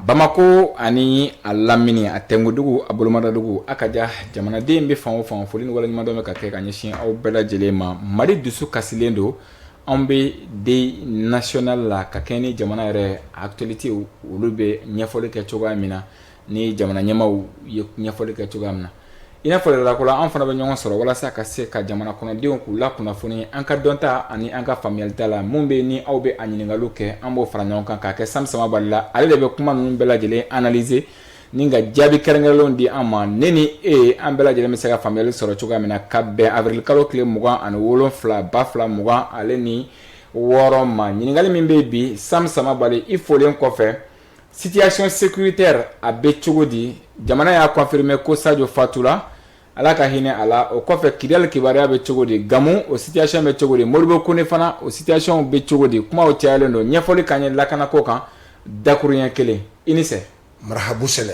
bamakɔ ani a lamini a tengudugu a bolomadadugu a ka ja jamanaden bɛ fan o fan foli ni waleɲumandɔn bɛ ka kɛ ka ɲɛsin aw bɛɛ lajɛlen ma mali dusu kasilen don anw bɛ deuil national la ka kɛɲɛ ni jamana yɛrɛ actualité olu bɛ ɲɛfɔli kɛ cogoya min na ni jamana ɲɛmaw ye ɲɛfɔli kɛ cogoya min na i n'a fɔla ko an fana bɛ ɲɔgɔn sɔrɔ walasa ka se ka jamana kɔnɔdenw k'u la kunnafoni an ka dɔnta ani an ka faamuyalita la mun bɛ yen aw bɛ a ɲininkali kɛ an b'o fara ɲɔgɔn kan k'a kɛ Sam Samabali la ale de bɛ kuma ninnu bɛɛ lajɛlen analyser ni ka jaabi kɛrɛnkɛrɛnnenw di an ma ne ni e an bɛɛ lajɛlen bɛ se ka faamuyali sɔrɔ cogoya min na ka bɛn avril kalo tile mugan ani wolo wolonwula ba fila mugan ale ni wɔɔrɔ ma ɲininkali min bɛ bi Sam Samabali i folilen kɔfɛ Situation sécuritaire a bɛ cogo di jamana y'a confirmer ko sajo fatula ala ka hinɛ a la o kɔfɛ Kidal kibaruya bɛ cogo di gamu o situation bɛ cogo di Modibo Kone fana o situationw bɛ cogo di kuma o cayalen don ɲɛfɔli ka ɲɛ lakanako kan dakuruɲɛ kelen i nise marahaba sɛnɛ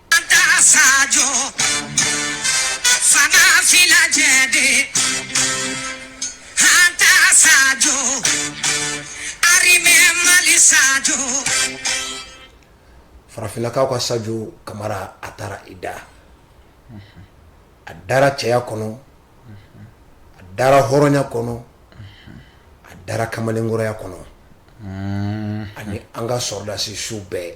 Farafinnakaw ka sajo kamara a taara i da a dara cɛya kɔnɔ a dara hɔrɔnya kɔnɔ a dara kamalenkɔrɔya kɔnɔ ani an ka sɔrɔdasi su bɛɛ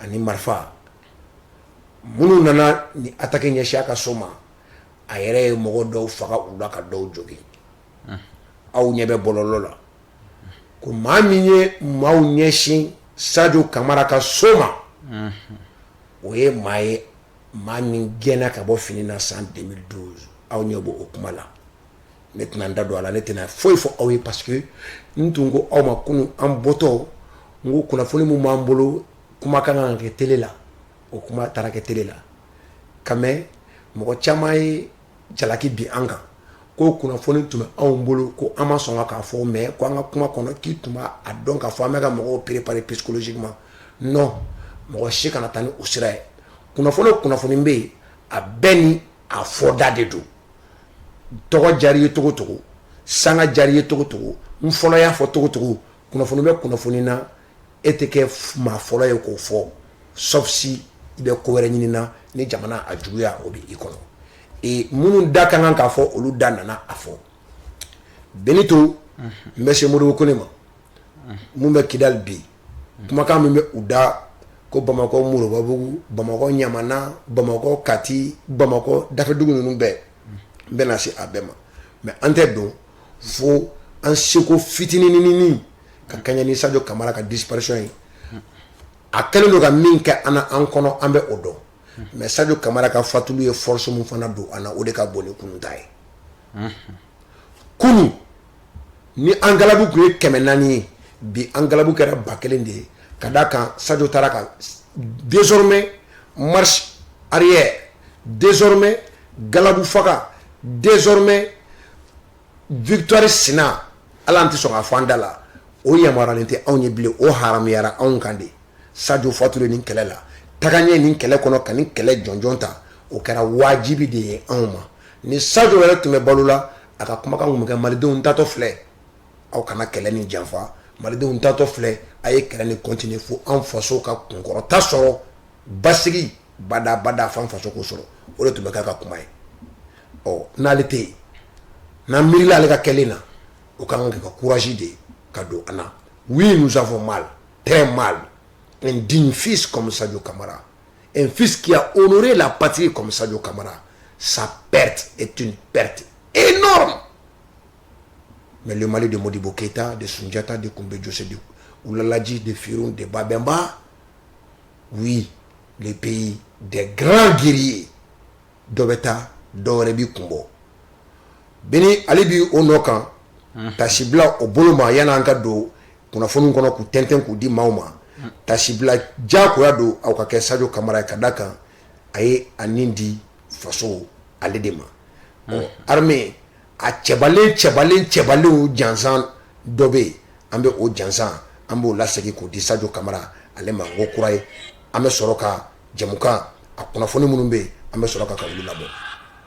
ani marifa minnu nana ni attaque ɲɛsin a ka so ma a yɛrɛ ye mɔgɔ dɔw faga u la ka dɔw jogin aw ɲɛ bɛ bɔlɔlɔ la ko maa min ye maaw ɲɛsin sajo kamara ka so ma o ye maa ye maa min gɛnna ka bɔ fini na san deux mille douze aw ɲɛ bɔ o kuma la ne tɛna n da don a la ne tɛna foyi fɔ aw ye parce que n tun ko aw ma kunun an bɔtɔ n ko kunnafoni min b'an bolo kuma ka kan ka kɛ tele la o kuma taara kɛ tele la quand même mɔgɔ caman ye jalaki bin an kan ko kunnafoni tun bɛ anw bolo ko an ma sɔn k'a fɔ mais ko an ka kuma kɔnɔ k'i tun b'a dɔn k'a fɔ an bɛ ka mɔgɔw préparer psychologiquement non mɔgɔ si kana taa ni o sira ye kunnafoni o kunnafoni bɛ yen a bɛɛ ni a fɔda de don tɔgɔ diyara i ye cogo cogo sanga diyara i ye cogo cogo n fɔlɔ y'a fɔ cogo cogo kunnafoni bɛ kunnafoni na e tɛ kɛ maa fɔlɔ ye k'o fɔ sauf si i bɛ ko wɛrɛ ɲini na ni jamana a juguya o bɛ i kɔnɔ ee minnu da ka kan k'a fɔ olu da nana a fɔ Benito n bɛ se Modibo Kone ma Mun bɛ Kidal bi kumakan min bɛ u da ko bamakɔ moribabugu bamakɔ ɲamana bamakɔ kati bamakɔ dafɛdugu ninnu bɛɛ n bɛna na se a bɛɛ ma mais an tɛ don fo an seko fitininini ka kɛɲɛ ni sajo kamara ka disparition ye a kɛlen don ka min kɛ an an kɔnɔ an bɛ o dɔn mais sajo kamara ka fatuli ye force mun fana don an na o de ka bon ni kunun ta ye kunun ni an galabu tun ye kɛmɛ naani ye bi an galabu kɛra ba kelen de ye ka d' a kan sajo taara ka désormais marche arrière désormais galabu faga désormais victoire sina ala an tɛ sɔn ka fɔ an da la o yamaruyalen tɛ anw ye bilen o haramuyara anw kan de sajo fatulen nin kɛlɛ la tagaɲɛ nin kɛlɛ kɔnɔ ka nin kɛlɛ jɔnjɔn ta o kɛra wajibi de ye anw ma ni sajo yɛrɛ tun bɛ balo la a ka kumakan kun bɛ kɛ malidenw n taatɔ filɛ aw kana kɛlɛ nin janfa malidenw n taatɔ filɛ a ye kɛlɛ nin continuer fo an faso ka kunkɔrɔta sɔrɔ basigi badaa fo an faso k'o sɔrɔ o de tun bɛ kɛ a ka kuma ye ɔ n'ale tɛ yen n'an miirila ale ka kɛlen na o ka kan ka kɛ courage de ye ka don an na oui nous avons mal très mal un digne fils comme sajo kamara Fisaya oe la pati kɔmimisajɔ kamara sa pɛrete et pɛrete e nɔ mɛ ma de mɔdi bɔ keyitata de sunjatadita de tun bɛ jɔsi de wulalaji de fi de babɛnba u ye de bɛ yen de garan g ye dɔ bɛ taa dɔw wɛrɛ bɛ kun bɔ bi ale bɛ o nɔ kan kasi bila o bolo ma a yan an ka don kunnafoniw kɔnɔ k'u tɛntɛn k'u di maaw ma tasibila diyagoya don aw ka kɛ Sajo Kamara ye ka d'a kan a ye a ni di faso ale de ma ɔ armée a cɛbalen cɛbalen cɛbalenw jansan dɔ bɛ yen an bɛ o jansan an b'o lasegin k'o di Sajo Kamara ale ma n ko kura ye an bɛ sɔrɔ ka jɛmukan a kunnafoni minnu bɛ yen an bɛ sɔrɔ ka ka olu labɔ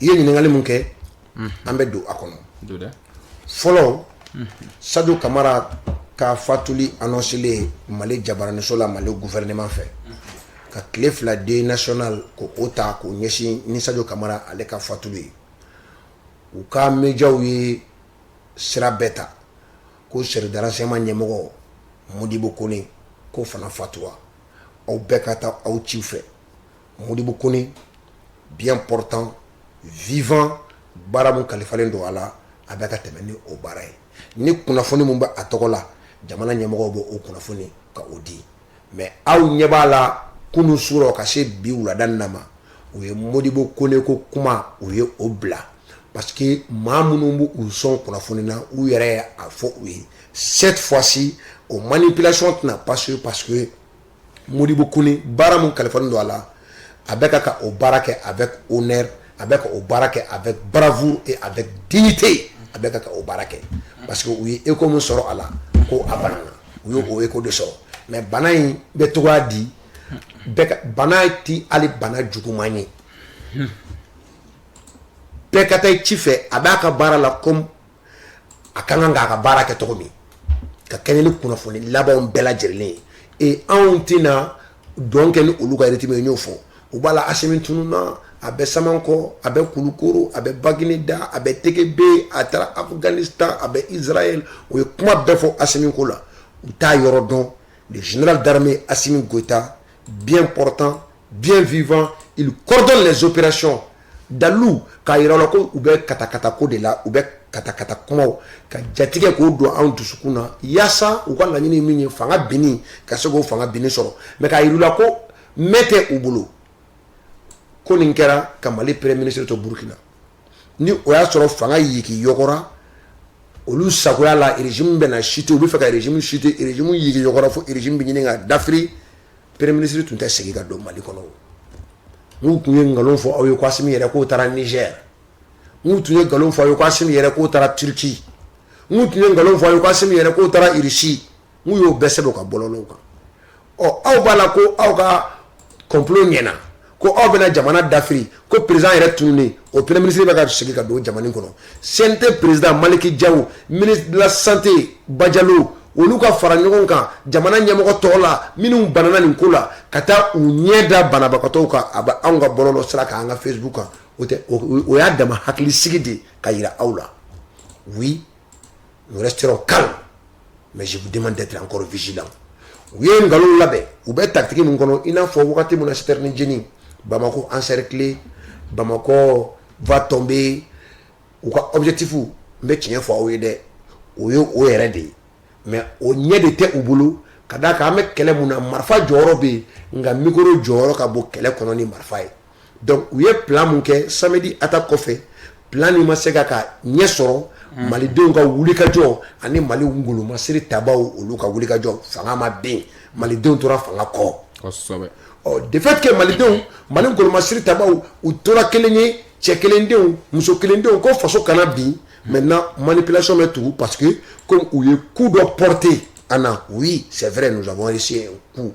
i ye ɲininkali min kɛ an bɛ don a kɔnɔ fɔlɔ sajo kamara ka fatuli anɔnselen mali jabaraniso la mali gouvernement fɛ ka tile fila deuil national k'o ta k'o ɲɛsin ni sajo kamara ale ka fatuli ye u ka médiaw ye sira bɛɛ ta ko service de renseignement ɲɛmɔgɔ modibo kone ko o fana fatura aw bɛɛ ka taa aw ci fɛ Modibo Kone bien portant vivant baara min kalifalen don a la, a bɛ ka tɛmɛ ni o baara ye. Ni kunnafoni min bɛ a tɔgɔ la, jamana ɲɛmɔgɔw bɛ o kunnafoni ka o di. Mais aw ɲɛ b'a la kunun su la ka se bi wulada in na ma, u ye Modibo Kone ko kuma, u ye o bila parce que maa minnu bɛ u sɔn kunnafoni na, u yɛrɛ ye a fɔ u ye cette fois ci o manipulation tɛna passer parce que Modibo Kone baara min kalifalen don a la a bɛ ka ka o baara kɛ avec honneur a bɛ ka o baara kɛ avec bravoure et avec dignité a bɛ ka ka o baara kɛ parce que u ye écho min sɔrɔ a la ko a banana u ye o écho de sɔrɔ mais bana in bɛ togoya di bɛɛ ka bana ti hali bana juguman ye bɛɛ ka taa i ci fɛ a b'a ka baara la comme a ka kan k'a ka baara kɛ cogo min ka kɛɲɛ ni kunnafoni labanw bɛɛ lajɛlen ye et anw tɛna dɔn kɛ ni olu ka rythme ye n y'o fɔ u b'a la Asimi tununna a bɛ Samankɔ a bɛ Kulukoro a bɛ Bagineda a bɛ TGB a taara Afghanistan a bɛ Israël o ye kuma bɛɛ fɔ Asimi ko la u t'a yɔrɔ dɔn le général d'armée Asimi Goïta bien portant Bien vivant il coordonne les opérations dalu k'a jira la ko u bɛ ka kata ko de la u bɛ ka kata kuma ka jatigɛ k'o don anw dusukun na yaasa u ka laɲini min ye fanga bin ka se k'o fanga bin sɔrɔ mais k'a jira la ko m tɛ u bolo ko nin kɛra ka Mali premier ministre to Burkina ni o y'a sɔrɔ fanga yigiyɔgɔra olu sagoya la régime bɛna chuter u bɛ fɛ ka régime chuter régime yigiyɔgɔra fo régime bɛ ɲini ka dafiri Premier ministre tun tɛ segin ka don Mali kɔnɔ n'u tun ye nkalon fɔ aw ye Asimi yɛrɛ k'o taara Niger n'u tun ye nkalon fɔ aw ye Asimi yɛrɛ k'o taara Turquie n'u tun ye nkalon fɔ aw ye Asimi yɛrɛ k'o taara Russie n'u y'o bɛɛ sɛbɛn u ka bɔlɔlɔw kan ɔ aw b'a la ko aw ka complot ɲɛna ko aw bɛna jamana dafiri ko président yɛrɛ tununen o premier ministre bɛ ka segin ka don jamana in kɔnɔ CNT président Maliki Jaw ministre de la santé Bajalo olu ka fara ɲɔgɔn kan jamana ɲɛmɔgɔ tɔgɔ la minnu banana nin ko la ka taa u ɲɛ da banabagatɔw kan a bɛ anw ka bɔlɔlɔ sira kan an ka Facebook kan o tɛ o y'a dama hakilisigi di k'a yira aw la oui nous resterons calmes mais je vous demande d'être encore vigilants u ye nkalon labɛn u bɛ tactique min kɔnɔ i n'a fɔ wagati min na citerne jeni Bamako encerclé Bamako va tomber u ka objectif n bɛ tiɲɛ fɔ aw ye dɛ o ye o yɛrɛ de ye mais o ɲɛ de tɛ u bolo ka d'a kan an bɛ kɛlɛ min na marifa jɔyɔrɔ bɛ yen nka micro jɔyɔrɔ ka bon kɛlɛ kɔnɔ ni marifa ye donc u ye plan mun kɛ samedi attaque kɔfɛ plan nin ma se ka ka ɲɛ sɔrɔ mm. malidenw ka wulikajɔ ani mali ngolomasiri tabaw olu ka wulikajɔ fanga ma bin malidenw tora fanga kɔ kosɛbɛ ɔ de fait que malidenw mali ngolomasiri tabaw u tora kelen ye cɛ kelendenw muso kelendenw ko faso kana bin maintenant manipulation bɛ tugu parce que comme u ye coup dɔ porter an na oui c'est vrai nous avons réussi un coup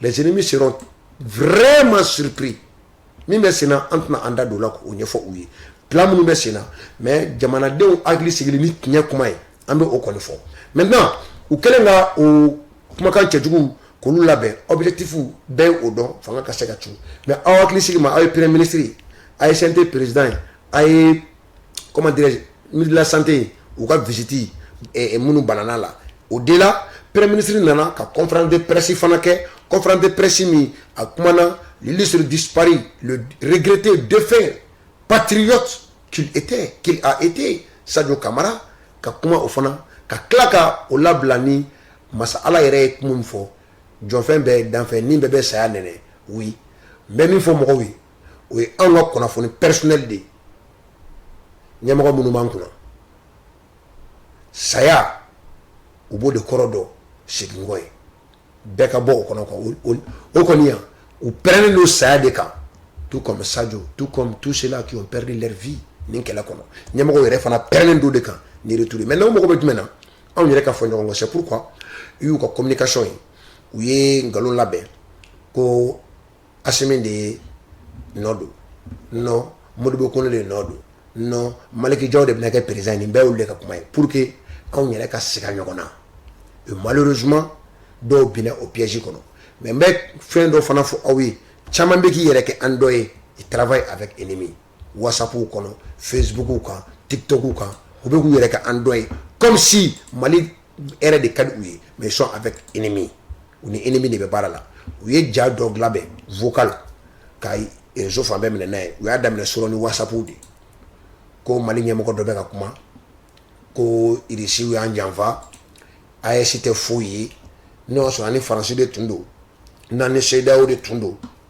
les ennemis seront vraiment surpris min bɛ sen na an tɛna an da don la k'o ɲɛfɔ u ye plan minnu bɛ sen na mais jamanadenw hakili sigili ni tiɲɛ kuma ye an bɛ o kɔni fɔ maintenant u kɛlen ka o kumakan cɛjugu kolon labɛn objectif bɛɛ ye o dɔn fanga ka se ka ci mais aw hakili sigi ma aw ye premier ministre ye a ye santé président ye a ye comment dirais-je ministre de la santé u ka visite eh, eh, minnu banana la au-delà premier ministre nana ka conférence de presse fana kɛ conférence de presse min a kumana l'illustre disparu le regretté défunt patriote qu'il était qu'il a été Sadio Camara ka kuma o fana ka tila ka o labila ni masa ala yɛrɛ ye kuma min fɔ jɔnfɛn bɛɛ danfɛn ni bɛɛ bɛ saya nɛnɛ oui n bɛ min fɔ mɔgɔw ye o ye anw ka kunnafoni personnel de ye ɲɛmɔgɔ minnu b'an kunna saya u b'o de kɔrɔ dɔn seginkɔ ye bɛɛ ka bɔ o kɔnɔ o kɔni yan u pɛrɛnnen don saya de kan tout comme Sadio tout comme tous ceux-là qui ont perdu leur vie nin kɛlɛ kɔnɔ ɲɛmɔgɔ yɛrɛ fana pɛrɛnnen don de kan ni retour maintenant u mago bɛ jumɛn na anw yɛrɛ ka fɔ ɲɔgɔn kɔ c'est pourquoi u y'u ka communication ye u ye nkalon labɛn ko Asi min de ye nɔ don n moribugu ko de ye nɔ don n malikɛja de bɛna kɛ perez ni bɛɛ de ka kuma ye pur que anw yɛrɛ ka sigi ɲɔgɔn na u mali z dɔw bɛna o psi kɔnɔ mɛ n bɛ fɛn dɔ fana fɔ aw ye caman bɛ k'i yɛrɛ kɛ an dɔ ye i tarawele a bɛ e nimi WhatsApp kɔnɔ Facebook kan TikTok kan u bɛ k'u yɛrɛ kɛ an dɔ ye comme si mali yɛrɛ de ka di u ye mais ils sont avec ennemi u ni ennemi de bɛ baara la u ye ja dɔ labɛn vocal ka réseau fan bɛɛ minɛ n'a ye u y'a daminɛ sɔrɔ ni WhatsApp de ko mali ɲɛmɔgɔ dɔ bɛ ka kuma ko irisiw y'an janfa AES tɛ foyi ye n'o y'a sɔrɔ an ni faransi de tun don n'an ni CEDEAO de tun don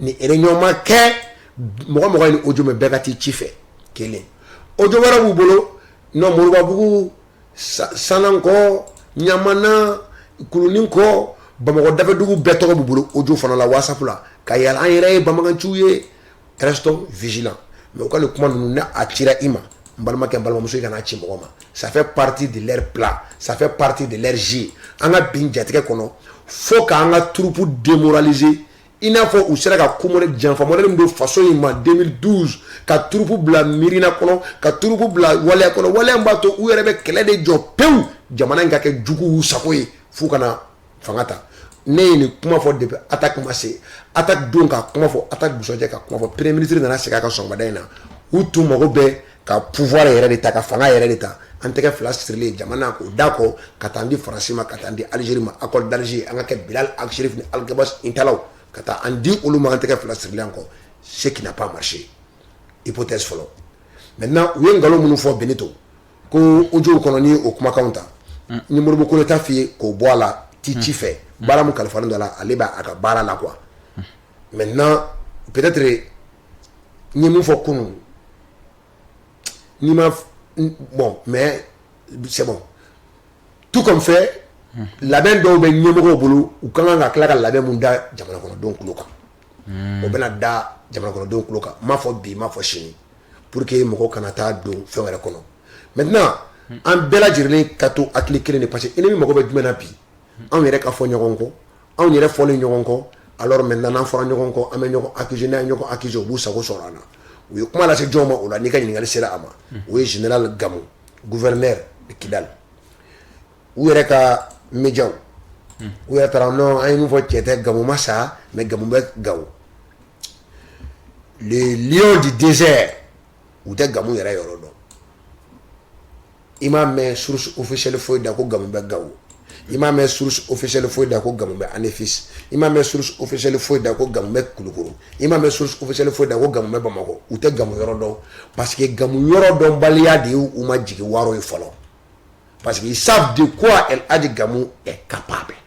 ni réunion ma kɛ mɔgɔ mɔgɔ ye nin audio mɛn bɛɛ ka t'i ci fɛ kelen audio wɛrɛ b'u bolo non moribabugu sanankɔ ɲamana kulunin kɔ bamakɔ dafɛdugu bɛɛ tɔgɔ b'u bolo audio fana la whatsapp la ka yaala an yɛrɛ ye banbaganciw ye restons vigilants mais u ka nin kuma ninnu n'a cira i ma n balimakɛ n balimamuso i kana a ci mɔgɔ ma ça fait partie de leur plan ça fait partie de leur jeu an ka bin jatigɛ kɔnɔ fo k'an ka troupe démoraliser i n'a fɔ u sera ka ko modèle janfa modèle min don faso in ma 2012 ka troupe bila miirina kɔnɔ ka troupe bila waleya kɔnɔ waleya min b'a to u yɛrɛ bɛ kɛlɛ de jɔ pewu jamana in ka kɛ juguw sago ye f'u kana fanga ta ne ye nin kuma fɔ depuis attaque ma se attaque don ka kuma fɔ attaque dugusɛjɛ ka kuma fɔ premier ministre nana segin a kan sɔgɔmada in na u tun mago bɛ ka pouvoir yɛrɛ de ta ka fanga yɛrɛ de ta an tɛgɛ fila sirilen jamana k'o da kɔ ka taa an di faransi ma ka taa an di algérie ma accord d'alger an ka kɛ bilal ag chérif ni alghabass intallaw ka taa an di olu ma an tɛgɛ fila sirilen an kɔ ce qui n'a pas marché hypothèse fɔlɔ maintenant u ye nkalon minnu fɔ benito ko audio kɔnɔ ni o kumakan ta ni modibo kɔnɛ ta f'i ye k'o bɔ a la t'i ci fɛ baara min kalifalen don a la ale bɛ a ka baara la quoi maintenant peut-être n ye min fɔ kunun ni ma bon mais c'est tout compte fait labɛn dɔw bɛ ɲɛmɔgɔw bolo u ka kan ka tila ka labɛn min da jamanakɔnɔdenw tulo kan o bɛna da jamanakɔnɔdenw tulo kan n m'a fɔ bi n m'a fɔ sini Pour que mɔgɔw kana taa don fɛn wɛrɛ kɔnɔ maintenant an bɛɛ lajɛlen ka to hakili kelen de parce que ennemi mago bɛ jumɛn na bi anw yɛrɛ ka fɔ ɲɔgɔn kɔ anw yɛrɛ fɔlen ɲɔgɔn kɔ alors maintenant n'an fɔra ɲɔgɔn kɔ an bɛ ɲɔgɔn accuser n'an ye ɲɔgɔn accuser u b'u sago sɔrɔ an na u ye kuma lase jɔn ma o la n'i ka ɲininkakali sera a ma o ye général gamu gouverneur de kidal u yɛrɛ ka médiaw u yɛrɛ taara non an ye min fɔ cɛn tɛ gamu ma sa mais gamu bɛ gawo le di dɛsɛ u tɛ gamu yɛrɛ yɔrɔ dɔn i m'a mɛ seli foyi da ko ga bɛ gawo i m'a mɛ seli foyi da ko ga bɛ ani fi i m'a mɛ seli foyi da ko ga bɛ kulukuru i m'a mɛ seli foyi da ko ga bɛ bamakɔ u tɛ gamu yɔrɔ dɔn pa que gamu yɔrɔ dɔn baliya de y u ma jigin wɔɔrɔ ye fɔlɔ pa que sa de ko adi gamu ka pan bɛɛ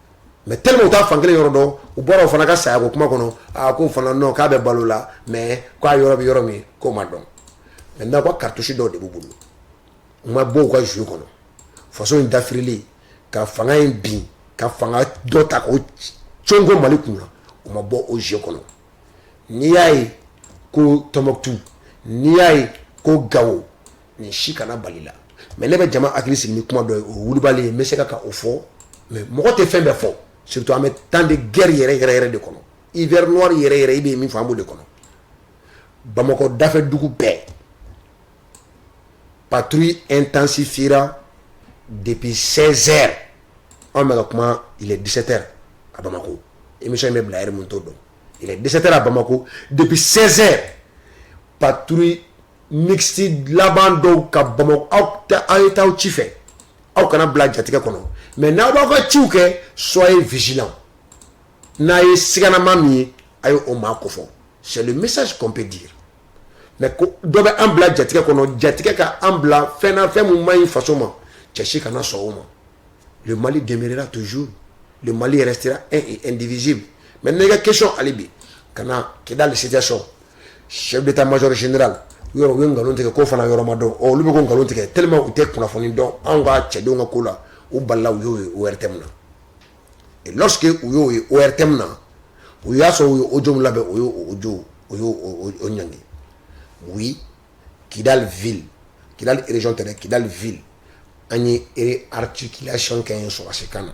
mais tellement u t'a fan kelen yɔrɔ dɔn u bɔra o fana ka sayako kuma kɔnɔ aa ko fana dɔn k'a bɛ balo la mais k'a yɔrɔ bɛ yɔrɔ min k'o ma dɔn maintenant quoi cartouche dɔ de b'u bolo u ma bɔ u ka jeu kɔnɔ faso in dafirilen ka fanga in bin ka fanga dɔ ta k'o cooko mali kun na u ma bɔ o jeu kɔnɔ n'i y'a ye ko tɔnbuktu n'i y'a ye ko gawo nin si kana bali la mais ne bɛ jama hakili sigi ni kuma dɔ ye o wulibali ye n bɛ se ka ka o fɔ mais mɔgɔ tɛ fɛn bɛɛ fɔ surtout an bɛ temps de guerre yɛrɛ yɛrɛ yɛrɛ de kɔnɔ hiver noir yɛrɛ yɛrɛ i bɛ min fɔ an b'o de kɔnɔ bamakɔ dafɛ dugu bɛɛ patrouille intensifiera depuis 16 heures an bɛ ka kuma il est 17 heures à Bamako émission in bɛ bila yɛrɛ mun t'o dɔn il est 17 heures à Bamako depuis 16 heures patrouille mixte laban dɔw ka bamakɔ aw aw ye taa aw ci fɛ aw kana bila jatigɛ kɔnɔ mais n'aw b'aw ka ciw kɛ soyez vigilants n'a ye siganama min ye a ye o maa kofɔ c'est le message qu'on peut dire mais dɔ bɛ an bila jatigɛ kɔnɔ jatigɛ ka an bila fɛn na fɛn min man ɲi faso ma cɛ si kana sɔn o ma le Mali demeurera toujours le Mali restera un et indivisible mais ne ka question hali bi ka na kidali situation chef d'état major général yɔrɔ u ye nkalon tigɛ k'o fana yɔrɔ ma dɔn ɔ olu bɛ k'o nkalon tigɛ tellement u tɛ kunnafoni dɔn anw ka cɛdenw ka ko la u balila u y'o ye ORTM na et lorsque u y'o ye ORTM na u y'a sɔrɔ u ye audio min labɛn o y'o o audio o y'o o o ɲangi oui Kidal ville Kidal région tɛ dɛ Kidal ville an ye articulation kɛ yen sɔrɔdasikan na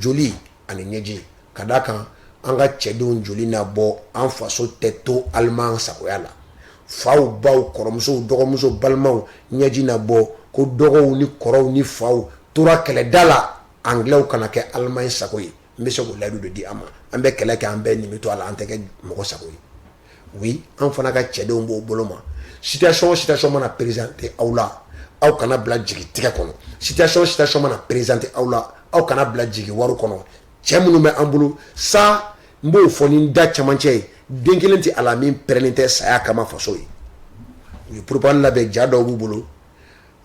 joli ani ɲɛji ka d'a kan an ka cɛdenw joli na bɔ an faso tɛ to Allemand sagoya la faw baw kɔrɔmuso dɔgɔmuso balimaw ɲɛji na bɔ ko dɔgɔw ni kɔrɔw ni faw tora kɛlɛda la angilɛw kana kɛ Allemagne sago ye n bɛ se k'o layidu de di aw ma an bɛ kɛlɛ kɛ an bɛɛ nin bɛ to a la an tɛ kɛ mɔgɔ sago ye oui an fana ka cɛdenw b'o bolo ma situation o situation mana présenter aw la aw kana bila jigitigɛ kɔnɔ situation o situation mana présenter aw la aw kana bila jigiwaaro kɔnɔ cɛ minnu bɛ an bolo sa n b'o fɔ ni da camancɛ ye den kelen tɛ a la min pɛrɛnnen tɛ saya kama faso ye u ye propagande labɛn ja dɔw b'u bolo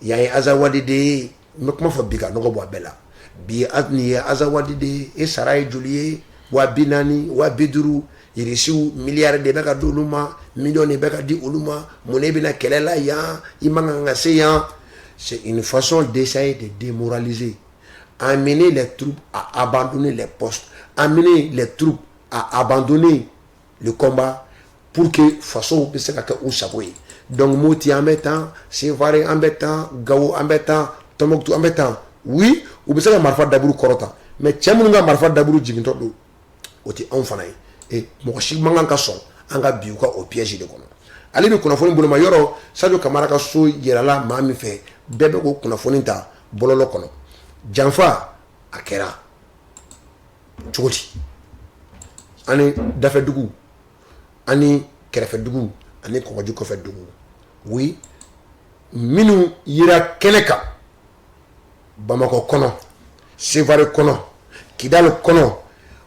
yan ye azawadi de ye N bɛ kuma fɔ bi ka nɔgɔ bɔ a bɛɛ la bi ye nin ye azawadi de ye e sara ye joli ye wa bi naani wa bi duuru irisiw miliyari de bɛ ka di olu ma miliyɔn de bɛ ka di olu ma munna e bɛ na kɛlɛ la yan i man kan ka se yan c'est une façon d'essayer de démoraliser amener les troupes à abandonner les postes amener les troupes à abandonner le combat pour que fasow bɛ se ka kɛ u sago ye donc Moti an bɛ tan Sevare an bɛ tan Gawo an bɛ tan Tɔnbukutu an bɛ tan oui u bɛ se ka marifa daburu kɔrɔta mais cɛ minnu ka marifa daburu jigintɔ don o tɛ anw fana ye et mɔgɔ si man kan ka sɔn an ka bin u ka o piège de kɔnɔ hali bi kunnafoni boloma yɔrɔ Sadio Kamara ka so yirala maa min fɛ bɛɛ bɛ k'o kunnafoni ta bɔlɔlɔ kɔnɔ janfa a kɛra cogo di ani dafɛ dugu ani kɛrɛfɛ dugu ani kɔgɔji kɔfɛ dugu oui minnu yera kɛnɛ kan bamakɔ kɔnɔ sevare kɔnɔ kidali kɔnɔ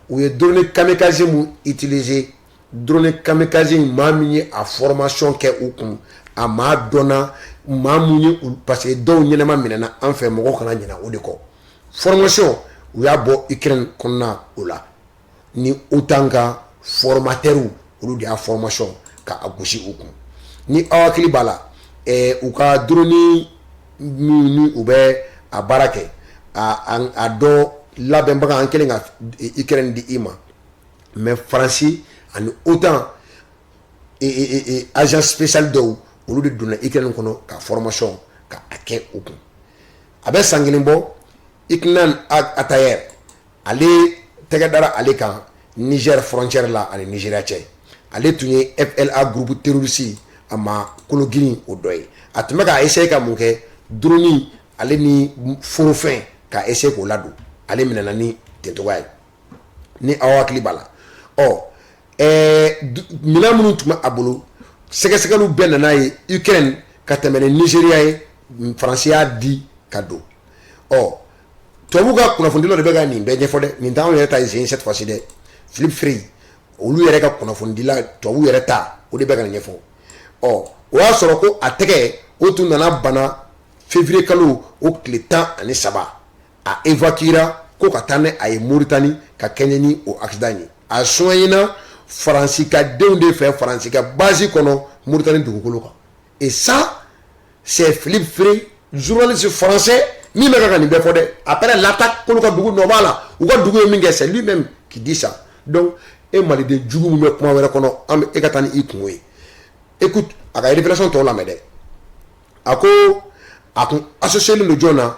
u ye drone kamikaze min utiliser Drone kamikaze in maa min ye a formation kɛ u kun, a maa dɔnna maa min ye parce que dɔw ɲɛnama minɛna an fɛ mɔgɔw kana ɲinɛ o de kɔ formation u y'a bɔ Ukraine kɔnɔna o la ni OTAN ka formateurs olu de y'a formation ka a gosi u kun, ni aw hakili b'a la ɛɛ u ka drone minnu ni u bɛ a baara kɛ a a dɔ labɛnbaga an kɛlen ka Ukraine di i ma mɛ faransi ani otan agent spécial dɔw olu de donna ukraine kɔnɔ ka formation ka a kɛ u kun a bɛ san kelen bɔ iknan atayer ale tɛgɛ dara ale kan niger frontière la ani nigeria cɛ ale tun ye fla groupe terroriste a maa kolo girin o dɔ ye a tun bɛ k'a essayer ka mun kɛ drone ale ni forofɛn k'a essayer k'o ladon ale minɛna ni ten cogoya ye ni aw hakili b'a la ɔ minɛn minnu tun bɛ a bolo sɛgɛsɛgɛliw bɛɛ nana ye ukraine ka tɛmɛ ni nigeria ye faransi y'a di ka don ɔ tubabu ka kunnafonidila de bɛ ka nin bɛɛ ɲɛfɔ dɛ nin t'anw yɛrɛ ta ye cette fois-ci dɛ philippe frey olu yɛrɛ ka kunnafonidila tubabu yɛrɛ ta o de bɛ ka nin ɲɛfɔ ɔ o y'a sɔrɔ ko a tɛgɛ o tun nana bana février kalo o tile tan ani saba a evacuera ko ka taa ni a ye moritani ka kɛɲɛ ni o accident ye a soignéna faransi ka denw de fɛ faransi ka base kɔnɔ moritani dugukolo kan et ça c'est philippe frey journaliste français min bɛ ka ka nin bɛɛ fɔ dɛ après l'attaque k'olu ka dugu nɔ b'a la u ka dugu ye min kɛ c'est lui même qui dit ça donc e maliden jugu min bɛ kuma wɛrɛ kɔnɔ an bɛ e ka taa ni i kungo ye écoute a ka révélation tɔw lamɛn dɛ a ko a kun associélen don jɔn na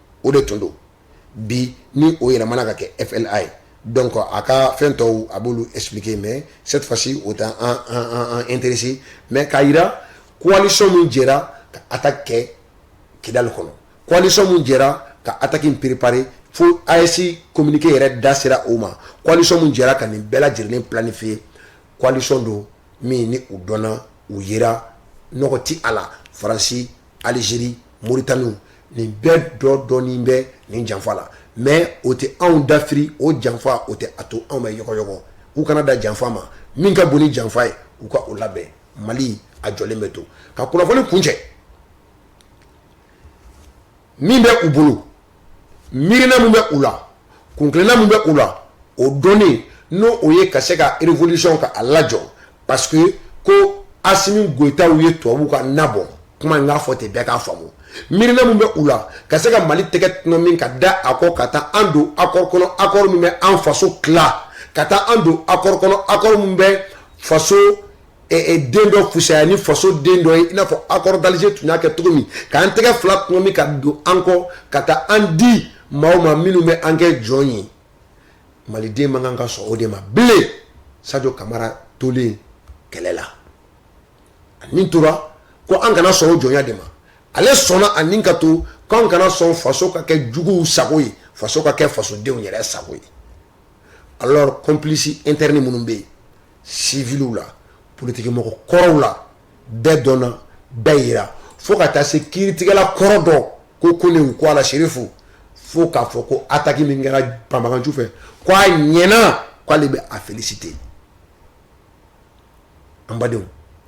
o de tun don bi ni o yɛlɛmana ka kɛ FLA ye donc a ka fɛn tɔw a b'olu expliquer mais cette fois ci o t'an an an an an interesser mais k'a jira coalition min jɛra ka attaque kɛ Kidali kɔnɔ coalition min jɛra ka attaque in préparer fo AES communiqué yɛrɛ da sera o ma coalition min jɛra ka nin bɛɛ lajɛlen planifier coalition don min ni u dɔnna u yera nɔgɔ ti a la Faransi aliziri moritani nin bɛɛ dɔ dɔɔnin bɛ nin janfa la mɛ o tɛ anw dafiri o janfa o tɛ a to anw bɛ yɔgɔyɔgɔ u kana da janfa ma min ka bon ni janfa ye u ka o labɛn mali a jɔlen bɛ to ka kunnafoni kuncɛ min bɛ u bolo miirina min bɛ u la kuntilenna min bɛ u la o dɔnnen n'o o ye ka se ka révolution ka a lajɔ parce que ko asimi goyitaw ye tubabu ka na bɔn kuma in k'a fɔ ten bɛɛ k'a faamu miirina min bɛ u la ka se ka mali tɛgɛ tɔnɔmi ka da a kɔ ka taa an don accord kɔnɔ accord min bɛ an faso tila ka taa an don accord kɔnɔ accord min bɛ faso den dɔ fisaya ni faso den dɔ ye i n'a fɔ accord d'alger tun y'a kɛ cogo min k'an tɛgɛ fila tɔnɔmi ka don an kɔ ka taa an di maaw ma minnu bɛ an kɛ jɔn ye maliden man kan ka sɔn o de ma bilen sajo kamara tolen kɛlɛ la a ni tora ko an kana sɔn o jɔnya de ma ale sɔnna a ni ka to ko an kana sɔn faso ka kɛ juguw sago ye faso ka kɛ fasodenw yɛrɛ sago ye alors complice interne minnu bɛ yen siwiliw la politikimɔgɔ kɔrɔw la bɛɛ dɔnna bɛɛ jira fo ka taa se kiiritigɛla kɔrɔ dɔ ko kone ko a la serifu fo k'a fɔ ko ataki min kɛra banbaganciw fɛ k' a ɲɛna k'ale bɛ a féliciter an badenw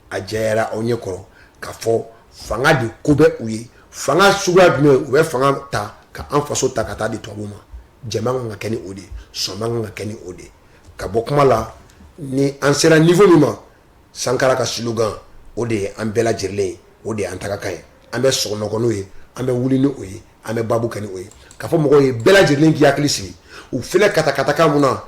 a jɛyara aw ɲɛ kɔrɔ k'a fɔ fanga de ko bɛ u ye fanga suguya jumɛn u bɛ fanga ta ka an faso ta ka taa di tubabu ma jama kan ka kɛ ni o de ye sɔn kan ka kɛ ni o de ye ka bɔ kuma la ni an sera niveau min ma sankara ka slogan o de ye an bɛɛ lajɛlen ye o de ye an tagakan ye an bɛ sunɔgɔ ni o ye an bɛ wuli ni o ye an bɛ baabu kɛ ni o ye k'a fɔ mɔgɔw ye bɛɛ lajɛlen k'i hakili sigi u filɛ katakata kan mun na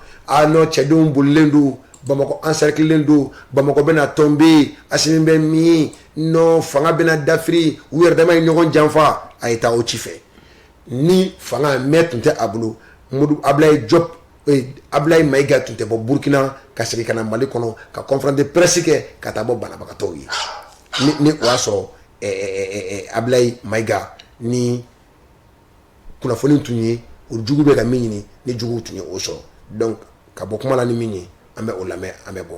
non cɛdenw bolilen don bamakɔ encerclélen don bamakɔ bɛna tomber asimi bɛ min non fanga bɛna dafiri u yɛrɛ dama ye ɲɔgɔn janfa a ye taa o ci fɛ ni fanga mɛ tun tɛ a bolo abulayi jɔpu abulayi mayiga tun tɛ bɔ burukina ka segin ka na mali kɔnɔ ka conférence de presse kɛ ka taa bɔ banabagatɔw ye ni o y'a sɔrɔ abulayi mayiga ni kunnafoni tun ye u jugu bɛ ka min ɲini ni jugu tun ye o sɔrɔ donc ka bɔ kuma la ni min ye an bɛ o lamɛn an bɛ bɔ